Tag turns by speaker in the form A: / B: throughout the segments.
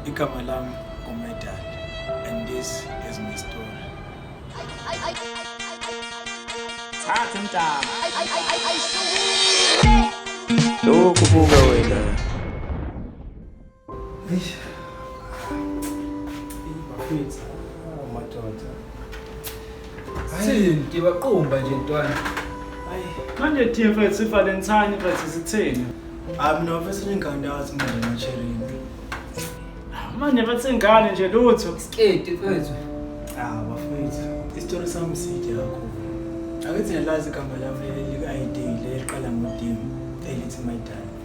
A: Igama lami uMedal and this is my story. Thatha umntana.
B: Lokhu buka wena. Eish.
A: Bafethu, amadoda. Thini
C: ngibaqumba nje ntwana. Hayi,
A: manje team
C: fethu iValentine fethu sithini? Hayi mina mfethu
A: nje ngikandazi mina nje macherini.
C: Manje bathi ingane nje lutho. Sketi fethu.
D: Ah, bafethu.
A: Isitori sami side kakhulu. Akithi nalazi igama lami leli lika-ID leliqala ngo-D elithi my darling.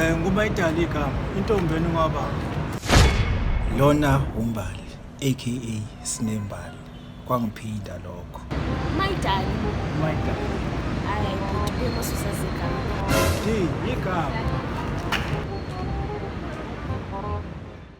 E: Eh nguma idali igama
A: intombi yenu ngaba. Lona umbali aka Sinembali kwangiphinda lokho. My dali.
E: My
A: dali. Hayi
E: bhuti kuyosusa zigama. Di
A: igama.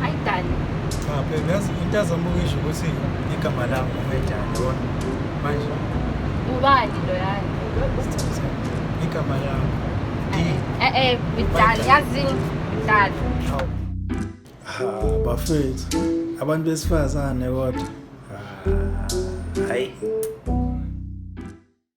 E: Hayi dali. Cha baby yazi
A: into azambukisha ukuthi igama lami ngumedani yona. Manje Ubani
E: lo yani?
A: igama lami. Eh eh ngidali
E: yazi ngidali. Ha
A: bafethu abantu besifazane kodwa. Hayi.